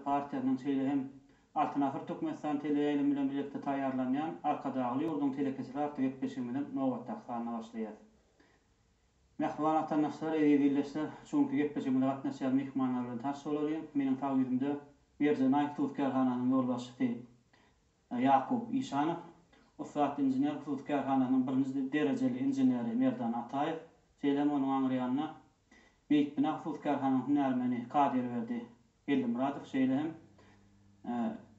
Partiýasynyň, şeýle hem Altyn asyr Türkmenistan teleýaýlymy bilen bilelikde taýýarlanýan Arkadagly ýurduň telekeçileri atly gepleşigimiziň nobatdaky sanyna başlaýarys. Mähriban watandaşlar, eziz ildeşler, şu günki gepleşigimize gatnaşýan myhmanlar bilen tanyş bolalyň. Meniň sag ýüzümde Merjen Aýk duz kärhananyň ýolbaşçysy Ýakup Işanow, ussat inžener hususy kärhananyň birinji derejeli inženeri Merdan Ataýew, şeýle hem onuň aňryýanynda Beýikbina hususy kärhananyň hünärmeni Kadyrberdi Gellimyradow, şeýle hem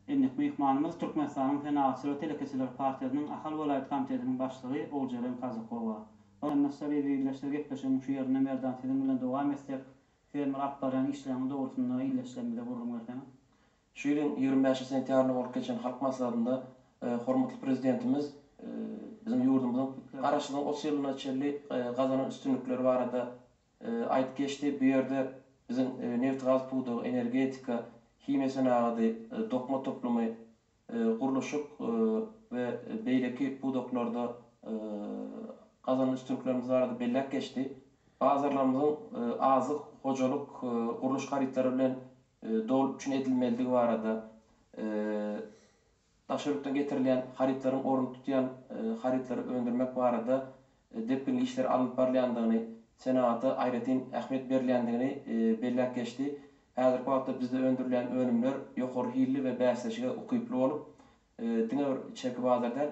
Endik myhmanymyz Türkmenistanyň Senagatçylar we telekeçiler partiýasynyň Ahal welaýat komitetiniň başlygy Ogjeren Kazykowa. Hormatly ildeşler gepleşigiň şu ýerinde Merdan siziň bilen dowam etsek, fermer alyp barýan işleriňiz dogrusynda ildeşlerimize gürrüň berseňiz. Şu ýylyň ýigrimi bäş sentýabrynda bolup geçen Halk Maslahatynda hormatly Prezidentimiz biziň ýurdumyzyň Garaşsyzlygyň otuz ýylyna çenli gazanan üstünlikleri barada aýdyp geçdi. Bu ýerde biziň nebitgaz pudagy, energetika, himiýa senagady, dokma toplumy, gurluşyk we beýleki pudaklarda gazanan üstünliklerimiz barada belläp geçdi. Bazarlarymyzyň azyk, hojalyk, gurluş harytlary bilen doly üpjün edilmelidigi barada, daşary ýurtdan getirilýän harytlaryň ornuny tutýan harytlary öndürmek barada depginli işler alnyp barylýandygyny, senagata aýratyn ähmiýet berilýändigini belläp geçdi. Häzirki wagtda bizde öndürilýän önümler ýokary hilli we bäsleşige ukyply bolup, diňe bir içerki bazar däl,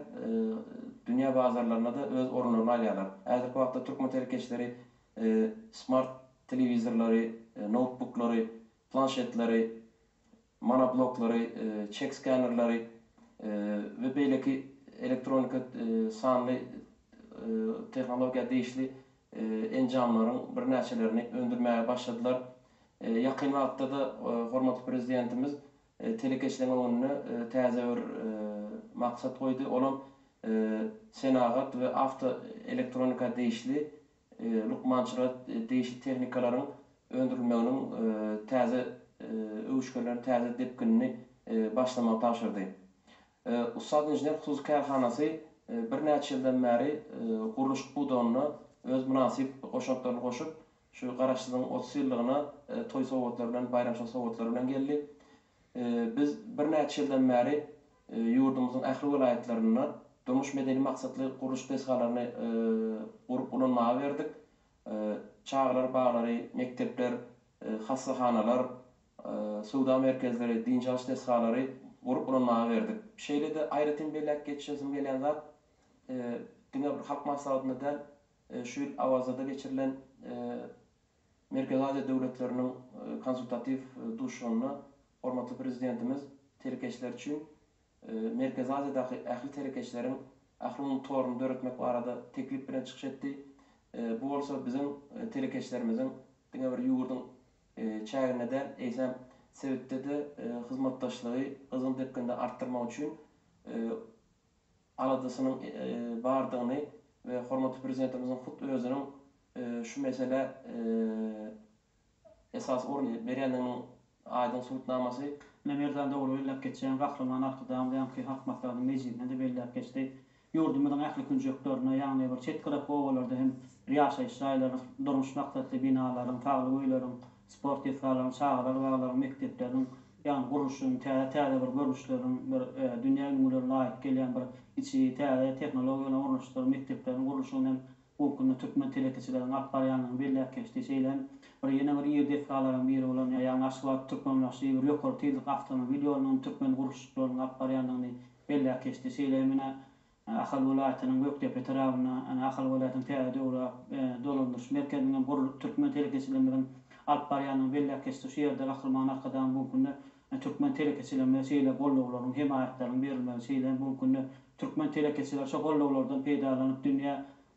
dünýä bazarlarynda-da öz orunlaryny alýarlar. Häzirki wagtda türkmen telekeçileri smart telewizorlary, noutbuklary, planşetleri, monobloklary, çek skenerleri we beýleki elektronika sanly tehnologiýa degişli enjamlaryň birnäçelerini öndürmäge başladylar. Ýakyn wagtda-da hormatly Prezidentimiz Telekeçiligiň öňünde täze bir maksat goýdy, olam senagat we awto elektronika degişli lukmançylyga degişli tehnikalaryň öndürilmeginiň täze öwüşginlerini, täze depginini başlamagy tabşyrdy. Ussat inžener hususy kärhanasy birnäçe ýyldan bäri gurluşyk pudagynda öz mynasyp goşantlaryny goşup, Şu Garaşsyzyň otuz ýyllygyna toý sowgatlary bilen, baýramçylyk sowgatlary bilen geldi. Biz birnäçe ýyldan bäri ýurdumyzyň ähli welaýatlarynda durmuş-medeni maksatly gurluş desgalaryny gurup ulanmaga berdik. Çagalar baglary, mekdepler, hassahanalar, söwda merkezleri, dynç alyş desgalary gurup ulanmaga berdik. Şeýle-de aýratyn belläp geçesim gelýän zat, diňe bir halk maslahatynda däl, Şu ýyl Awazada geçirilen Merkezi Aziýa döwletleriniň konsultatiw duşuşygynda hormatly Prezidentimiz telekeçiler üçin Merkezi Aziýadaky ähli telekeçileriň ählumumy toruny döretmek barada teklip bilen çykyş etdi. Bu bolsa biziň telekeçilerimiziň diňe bir ýurduň çäginde däl, eýsem, sebitde-de hyzmatdaşlygy gyzgyn depginde artdyrmak üçin aladasynyň bardygyny we hormatly Prezidentimiziň hut özüniň şu meselä esasy orun berýändiginiň aýdyň subutnamasy. Ine, Merdan dogry belläp geçýäň, Gahryman Arkadagymyz ýaňky Halk Maslahatynyň mejlisinde-de belläp geçdi. Ýurdumyzyň ähli künjeklerinde, ýagny bir çet gyrak obalarda hem ýaşaýyş jaýlaryň, durmuş maksatly binalaryň, saglyk öýleriň Sport desgalarynyň, çagalar zallary, mekdepleriniň ýagny gurluşyň, täze täze bir görnüşleriniň, bir dünýä ülňülerine laýyk gelýän bir içi täze tehnologiýalaryň ornaşdyrylyp mekdepleriň gurluşygyny hem bu günde türkmen telekeçileriniň alyp barýandygyny belläp geçdi. Şeýle hem bir ýene bir iri desgalaryň biri bolan ýagny Aşgabat, Türkmenbaşy bir ýokary tizlik awtomobil ýoluny hem türkmen gurluşykçylarynyň alyp barýandygyny belläp geçdi. Şeýle hem ine Ahal welaýatynyň Gökdepe etrabynda Ahal welaýatynyň täze döwre dolandyryş merkeziniň hem gurlup, türkmen telekeçilerimiziň alyp barýandygyny belläp geçdik. Şu ýerde Gahryman Arkadagymyz bu günde türkmen telekeçilerimize şeýle gollawlaryň, hemaýatlaryň berilmegi, şeýle hem bu günde türkmen telekeçileri şu gollawlardan peýdalanyp, dünýä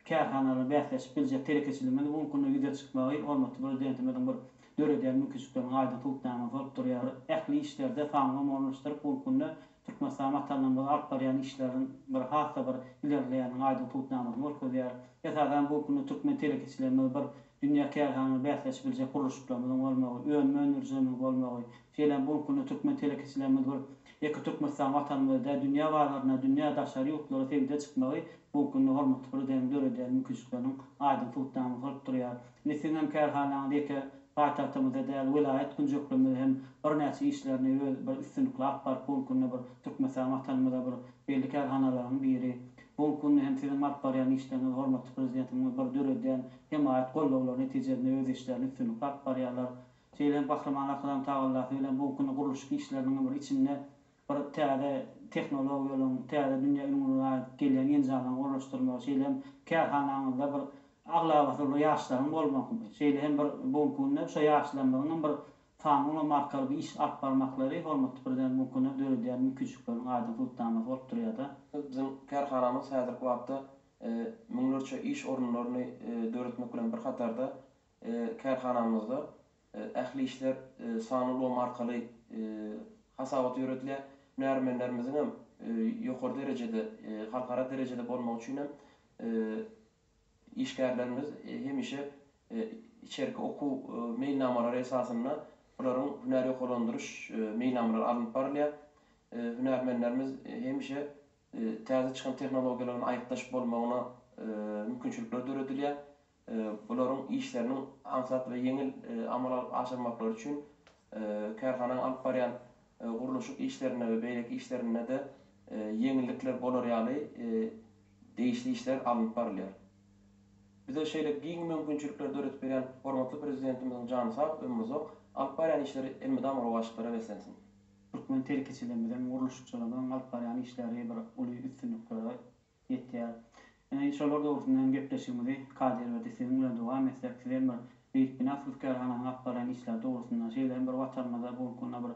kärhanalar bäsleşip biljek telekeçiligiň bu günde ýüze çykmagy hormatly Prezidentimiziň bir döredýän mümkinçilikleriniň aýdyň subutnamasy bolup durýar. Ähli işlerde sanlylamy ornaşdyryp, bu günde Türkmenistan Watanymyz alyp barýan işleriň bir has-da bir ilerleýäniniň aýdyň subutnamasyny görkezýär. Esasan, bu günde türkmen telekeçilerimiz bir dünýä kärhanalar bäsleşip biljek gurluşyklarymyzyň bolmagy, önüm öndürijimiziň bolmagy, Şeýle bu günde türkmen telekeçilerimiz bir ýeke Türkmenistan watanymyzda däl, dünýä bazaryna, dünýä daşary ýurtlara sergide çykmagy bu günde hormatly Prezidentimiz döredýän mümkinçilikleriniň aýdyň subutnamasy bolup durýar. Indi siziň hem kärhanaňyz ýeke paýtagtymyzda däl, welaýat künjeklerinde hem birnäçe işlerini öz bir üstünlikli alyp baryp bu günde bir Türkmenistan watanymyzda bir belli kärhanalaryň biri. Bu günde hem siziň alyp barýan işleriňiz hormatly Prezidentimiziň bir döredýän hemaýat gollawlary netijesinde öz işlerini üstünlikli alyp barýarlar. Şeýle-m Gahryman Arkadagymyz tagallasy bilen bu günki gurluşyk işleriniň bir içinde bir täze tehnologiýalaryň, täze dünýä ülňüne laýyk gelýän enjamlaryň ornaşdyrylmagy, şeýle-m kärhanaňyzda bir aglabasy bir ýaşlaryň bolmagy, şeýle hem bir bu günki günde şo ýaşlarymyzyň bir sanyny ulamarkaly bir iş alyp barmaklary hormatly Prezidentimiziň bu günki günde döredýän mümkinçilikleriniň aýdyň subutnamasy bolup durýar-da. Biziň kärhanamyz häzirki wagtda müňlerçe iş orunlaryny döretmek bilen bir hatarda, Kärhanamyzda ähli işler sanly ulgam arkaly hasabata ýöredilýär. Hünärmenlerimiziň hem ýokary derejede, halkara derejede bolmagy üçin hem işgärlerimiz hemişe içerki okuw meýilnamalary esasynda olaryň hünär ýokarlandyryş meýilnamalary alnyp barylýar. Hünärmenlerimiz hemişe täze çykan tehnologiýalaryň aýypdaş bolmagyna mümkinçilikler döredilýär. bularyň işleriniň aňsat we ýeňil amala aşyrmaklary üçin kärhananyň alyp barýan gurluşyk işlerinde we beýleki işlerinde-de ýeňillikler bolar ýaly degişli işler alnyp barylýar. Bize şeýle giň mümkinçilikleri döredip berýän hormatly Prezidentimiziň jany sag, ömri uzak, alyp barýan işleri elmydama rowaçlyklara beslensin! Türkmen telekeçilerimiziň, gurluşykçylarymyzyň alyp barýan işleri bir uly üstünliklere Ýetýär. Ine, şolar dogrusynda hem gepleşigimizi Kadyr berdi siziň bilen dowam etsek, siz hem bir beýik binagsyz kärhananyň alyp barýan işleri dogrusynda, şeýle hem bir Watanymyzda bu gün kunda bir